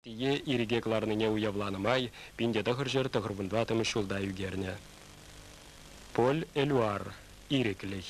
Пие ирӗке кӑларнине уявланӑ май пинте тӑхӑр ҫӗр тӑхӑрмӗн тӑваттӑмӗш ҫулта ӳкернӗ. Поль-Элюар, ирӗклӗх.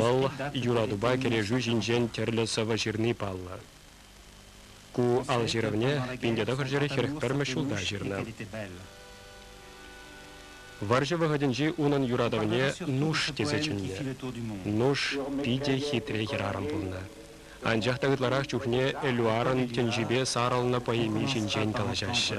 Вӑл юратупа кӗрешӳ ҫинчен тӗрлӗ сӑвӑ ҫырни паллӑ. Ку ал ҫырӑвне пин тӑхӑрҫӗре хӗрӗх пӗрмӗш ҫулта ҫырнӑ. Вӑрҫӑ вӑхӑтӗнчи унӑн юратӑвне Нуш тесе чӗннӗ. Нуш питӗ хитре хӗрарӑм пулнӑ. Анчах та ытларах чухне Элюарӑн тӗнчипе сарӑлнӑ поэми ҫинчен калаҫаҫҫӗ.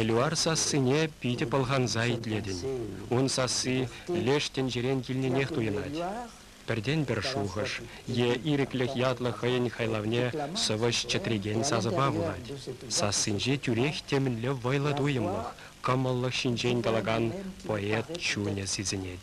Элюар сассине питӗ пӑлханса итлетӗн. Ун сасси леш тӗнчерен килнӗнех туйӑнать. Пӗртен-пӗр шухӑш е ирӗклӗх ятлӑ хӑйӗн хайлавне сӑвӑҫ чӗтрекен сасӑпа вулать. Сассинче тӳрех темӗнле вӑйлӑ туйӑмлӑх, кӑмӑллӑх ҫинчен калакан поэт чунӗ сисӗнет.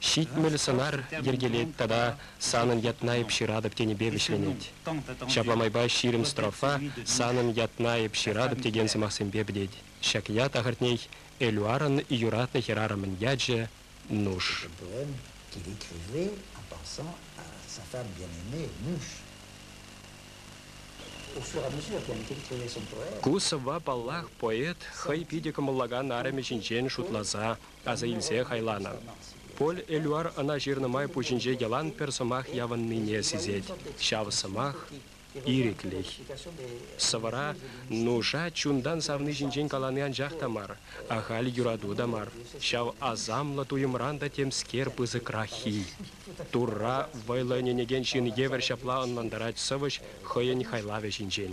ҫитмӗл сӑнар йӗркелет тата санӑн ятна эп ҫыратӑп тенипе вӗҫленет. Ҫапла майпа ҫирӗм строфа санӑн ятна эп ҫыратӑп текен сӑмахсемпе пӗтет ҫак ят ахӑртнех Элюарӑн юратнӑ хӗрарӑмӗн ячӗ Нуш. Проблем кирек-мӗнле аппаса сасав янине Нуш. Ку сӑвва, паллах, поэт хӑй питӗ кӑмӑллакан арӑмӗ ҫинчен шутласа аса илсе хайланӑ. Поль Элюар ӑна ҫырнӑ май пуҫӗнче йӑлан пӗр сӑмах явӑннине сисет, ҫав сӑмах, ирӗклӗх. Сӑвӑра нуша чунтан савни ҫинчен калани анчах та мар, ахаль юрату та мар, ҫав асамлӑ туйӑмран та темскер пысӑкраххи. Турра вӑйлӑ ӗненекен ҫын евӗр ҫапла ӑнлантарать сӑвӑҫ хӑйӗн хайлавӗ ҫинчен.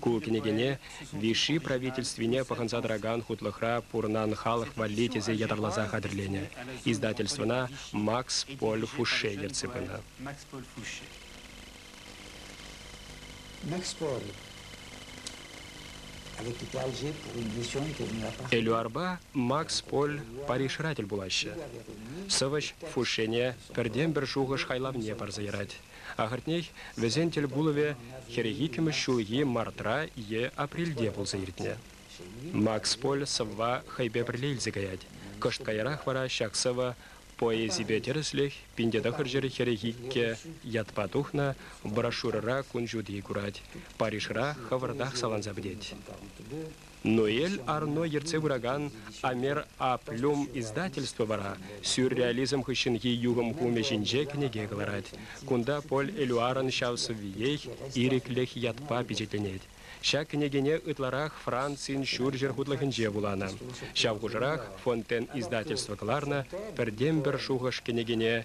Ку кӗнекене Виши правительствине пӑхӑнса тӑракан хутлӑхра пурӑнан халӑх валли тесе ятарласа хатӗрленӗ. Издательствӑна Макс Поль Фуше ертсе пынӑ. Макс Поль Фуше. Макс Поль Элюарпа Макс Поль Парижра тӗл пулаҫҫӗ. Сӑвӑҫ Фушене пӗртен-пӗр шухӑш хайлавне парса ярать. Ахӑртнех, вӗсен тӗл пулӑвӗ хӗрӗх-иккӗмӗш ҫулхи мартра е апрельте пулса иртнӗ. Макс Поль сӑвва хӑйпе пӗрле илсе каять. Кӑшт каярах вара ҫак сӑвӑ поэзипе тӗрӗслӗх пин те тӑхӑр ҫӗр хӗрӗх иккӗ ятпа тухнӑ брошюрӑра кун ҫути курать, Парижра хӑвӑртах саланса пӗтет. Ноэль Арно ертсе пыракан Амер А-Плюм издательство вара сюрреализм хыҫҫӑнхи юхӑм хумӗ ҫинче кӗнеке кӑларать. Кунта Поль Элюарӑн ҫав сӑввиех Ирӗклӗх ятпа пичетленет. Ҫак кӗнекене ытларах Францин ҫурҫӗр хутлӑхӗнче вуланӑ. Ҫав хушӑрах Фонтен издательство кӑларнӑ пӗртен-пӗр шухӑш кӗнекене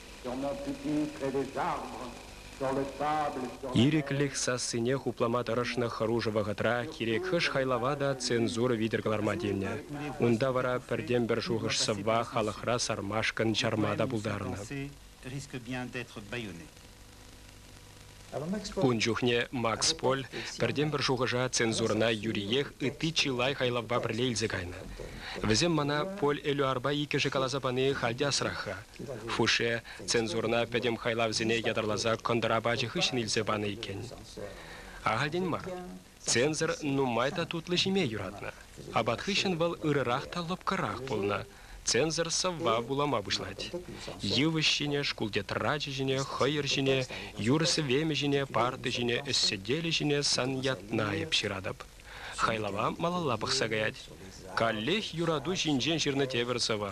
Ирӗклӗх сассине хуплама тӑрӑшнӑ хӑрушӑ вӑхӑтра кирек хӑш хайлава та цензура витӗр кӑларма тивнӗ. Унта вара пӗртен-пӗр шухӑш-сӑвва халӑхра сармашкӑн чарма та пултарнӑ. Ун чухне Макс Поль пӗртен-пӗр шухӑша цензурӑна юриех ытти чылай хайлавпа пӗрле илсе кайнӑ. Вӗсем мана Поль Элюарпа иккӗшӗ каласа пани халь те асрах-ха. Фуше цензурӑна пӗтӗм хайлавсене ятарласа кӑнтӑр апачӗ хыҫҫӑн илсе панӑ иккен. Ахальтен мар. Цензор нумай та тутлӑ ҫиме юратнӑ. Апат хыҫҫӑн вӑл ырӑрах та лӑпкӑрах пулнӑ. Цензор сӑвва вулама пуҫлать. Йывӑҫ ҫине, шкул тетрачӗ ҫине, хӑйӑр ҫине, юр-сӗвемӗ ҫине, парта ҫине, ӗҫсӗтелӗ ҫине сан ятна эп ҫыратӑп. Хайлава малалла пӑхса каять. Каллех юрату ҫинчен ҫырнӑ тепӗр сӑвӑ.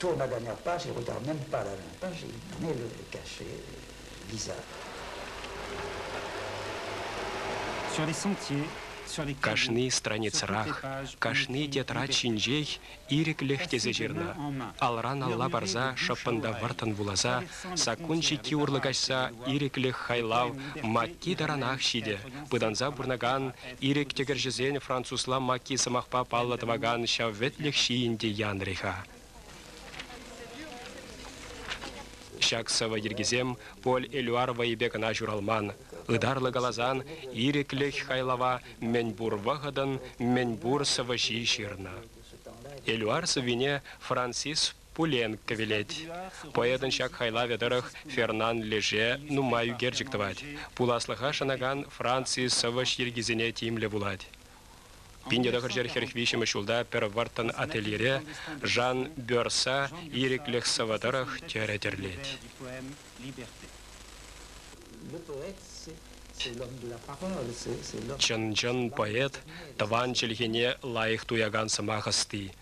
Турнӑран аппа ҫурта мӗн парӑннӑ-ши, мӗн ӗлкӗркӗ-ши Лиза? Кашни страницӑрах, кашни тетрад ҫинчех ирӗклӗх тесе ҫырнӑ, алран-алла парса шӑппӑн та вӑрттӑн вуласа, саккун ҫикки урлӑ каҫса ирӗклӗх хайлав матти таранах ҫитӗ, пытанса пурӑнакан Ирӗк тӗкӗрҫӗсен французла Маки сӑмахпа паллӑ тӑвакан ҫав вӗтлӗх ҫийӗн те янрӗ-ха. Ҫак сӑвӑ йӗркисем Поль Элюар вӑйӗпе кӑна ҫуралман. Ытарлӑ каласан, ирӗклӗх хайлава мӗнпур вӑхӑтӑн мӗнпур сӑвӑҫи ҫырнӑ. Элюар сӑввине Франсис Пуленко вилет. Поэтӑн ҫак хайлавӗ тӑрӑх Фернан Леже нумай ӳкерчӗк тӑвать. Пуласлӑха шанакан Франци сӑвӑҫ йӗркисене тимлӗ вулать. Пин тӑхӑрҫӗр хӗрӗх виҫҫӗмӗш ҫулта пӗр вӑрттӑн ательере Жан Бёрса ирӗклӗх сӑвӑ тӑрӑх тӗрӗ тӗрлет. Чӑн-чӑн поэт тӑван чӗлхене лайӑх туякан сӑмах ӑсти.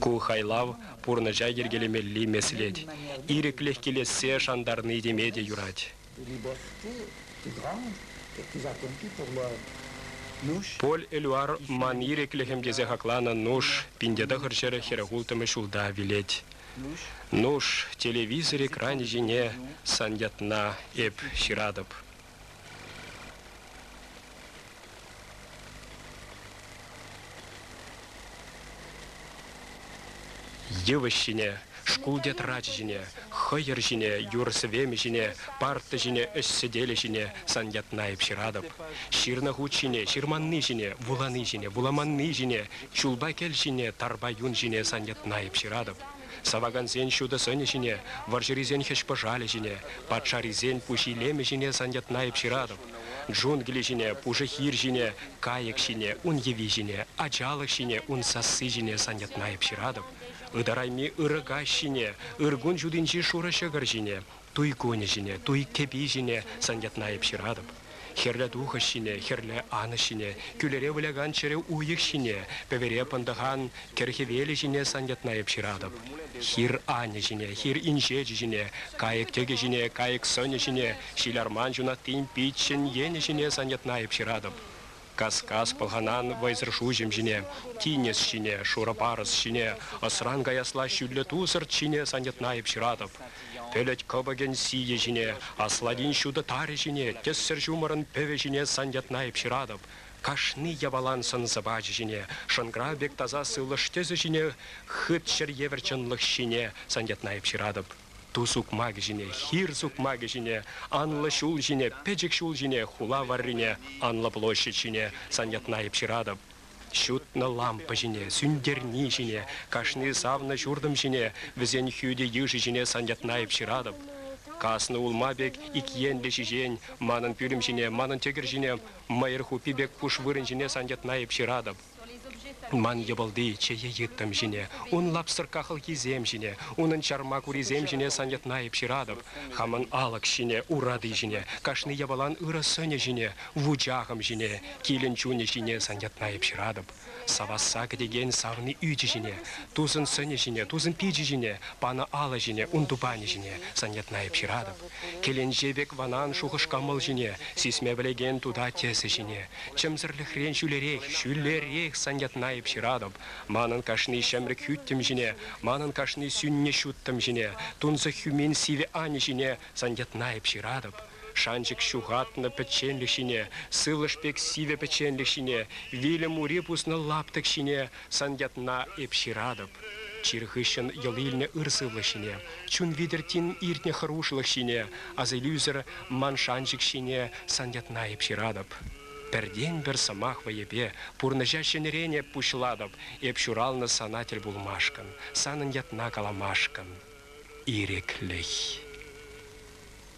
Ку хайлав пурнӑҫа йӗркелемелли меслет. Ирӗклӗх килессе шантарни теме те юрать. Поль Элюар ман ирӗклӗхӗм тесе хакланӑ Нуш пинте тӑхӑр ҫӗр хӗрӗхулттӑмӗш ҫулта вилет. Нуш, телевизор экранӗ ҫине сан ятна эп ҫыратӑп. Йывӑҫ ҫине, шкул тетрачӗ ҫине, хӑйӑр ҫине, юр-сӗвемӗ ҫине, парта ҫине, ӗҫ сӗтелӗ ҫине сан ятна эп ҫыратӑп. Ҫырнӑ хут ҫине, ҫырманни ҫине, вулани ҫине, вуламанни ҫине, чулпа кӗл ҫине, тарпа юн ҫине сан ятна эп ҫыратӑп. Савакансен ҫутӑ сӑнӗ ҫине, вӑрҫӑрисен хӗҫ-пӑшалӗ ҫине, патшарисен пуҫ илемӗ ҫине сан ятна эп ҫыратӑп. Джунгли ҫине, пушӑ хир ҫине, кайӑк ҫине, ун йӑви ҫине, ачалӑх ҫине, ун сасси ҫине сан ятна эп ҫыратӑп. Ытарайми ырӑ каҫ ҫине, ыр кун ҫутинчи шурӑ ҫӑкӑр ҫине, туй кунӗ ҫине, туй кӗпи ҫине сан ятна эп ҫыратӑп. Хӗрлӗ тухӑҫ ҫине, хӗрлӗ анӑҫ ҫине, кӳлӗре вылякан чӗрӗ уйӑх ҫине, пӗвере пӑнтӑхан кӗр хӗвелӗ ҫине сан ятна эп ҫыратӑп. Хир анӗ ҫине, хир инҫечӗ ҫине, кайӑк тӗкӗ ҫине, кайӑк сӑнӗ ҫине, Ҫиларман ҫунаттин пиччӗн енӗ ҫине саньӑтнайӑп ҫыратӑп. Кас-кас пӑлханан вӑйсӑр шуҫӑм ҫине, тинӗс ҫине, шурӑ парӑс ҫине, ӑсран каясла ҫӳллӗ тусӑрт ҫине саньӑтнайӑп ҫыратӑп. Пӗлӗт кӑпӑкӗн сийӗ ҫине, асладин ҫутӑ тарӗ ҫине, тӗссӗр ҫумӑрӑн пӗвӗ ҫине саньӑтнайӑп ҫыратӑп. Кашни япалан сӑн-сӑпачӗ ҫине, шӑнкӑрав пек таса сывлӑш тӗсӗ ҫине, хыт ҫӗр евӗр чӑнлӑх ҫине саньӑтнайӑп ҫыратӑп. Ту сукмакӗ ҫине, хир сукмакӗ ҫине, анлӑ ҫул ҫине, пӗчӗк ҫул ҫине, хула варрине, анлӑ площадь ҫине сан ятна эп ҫыратӑп. Ҫутнӑ лампа ҫине, сӳнтерни ҫине, кашни савнӑ ҫуртӑм ҫине, вӗсен хӳтӗ йышӗ ҫине сан ятна эп ҫыратӑп. Каснӑ улма пек ик енлӗ ҫиҫен манӑн пӳлӗм ҫине, манӑн тӗкӗр ҫине, мӑйӑр хуппи пек куш вырӑн ҫине сан ятна эп ҫыратӑп. Ман йӑпӑлти чее йыттӑм ҫине, ун лапсӑркка хӑлхисем ҫине, унӑн чарма курисем ҫине сан ятна эп ҫыратӑп. Хамӑн алӑк ҫине, урати ҫине, кашни япалан ырӑ сӑнӗ ҫине, вучахӑм ҫине, килӗн чунӗ ҫине сан ятна эп ҫыратӑп. Савасса кӗтекен савни ӳчӗ ҫине, тусын сӑнӗ ҫине, тусын пичӗ ҫине, панӑ алӑ ҫине, ун тупанӗ ҫине, сан ятна эп ҫыратӑп. Кӗленче пек ванан шухӑш-кӑмӑл ҫине, сисме пӗлекен тута тӗсӗ ҫине, чӗмсӗрлӗхрен ҫӳлерех, ҫӳлерех сан ятна эп ҫыратӑп, манӑн кашни ҫӗмрӗк хӳттӗм ҫине, манӑн кашни сӳннӗ ҫуттӑм ҫине, тунсӑх хӳмен сивӗ ани ҫине сан ятна эп ҫыратӑп. Шанчӑк ҫухатнӑ пӗчченлӗх ҫине, сывлӑш пек сивӗ пӗчченлӗх ҫине, вилӗм ури пуснӑ лаптӑк ҫине Сан ятна эп ҫыратӑп. Чир хыҫҫӑн йӑл илнӗ ыр сывлӑх ҫине, чун витӗр тин иртнӗ хӑрушлӑх ҫине, асилӳсӗр ман шанчӑк ҫине сан ятна эп ҫыратӑп. Пӗртен-пӗр сӑмах вӑйӗпе пурнӑҫа ҫӗнӗрен эп пуҫлатӑп, эп ҫуралнӑ сана тӗл пулмашкӑн, санӑн ятна каламашкӑн ирӗклӗх.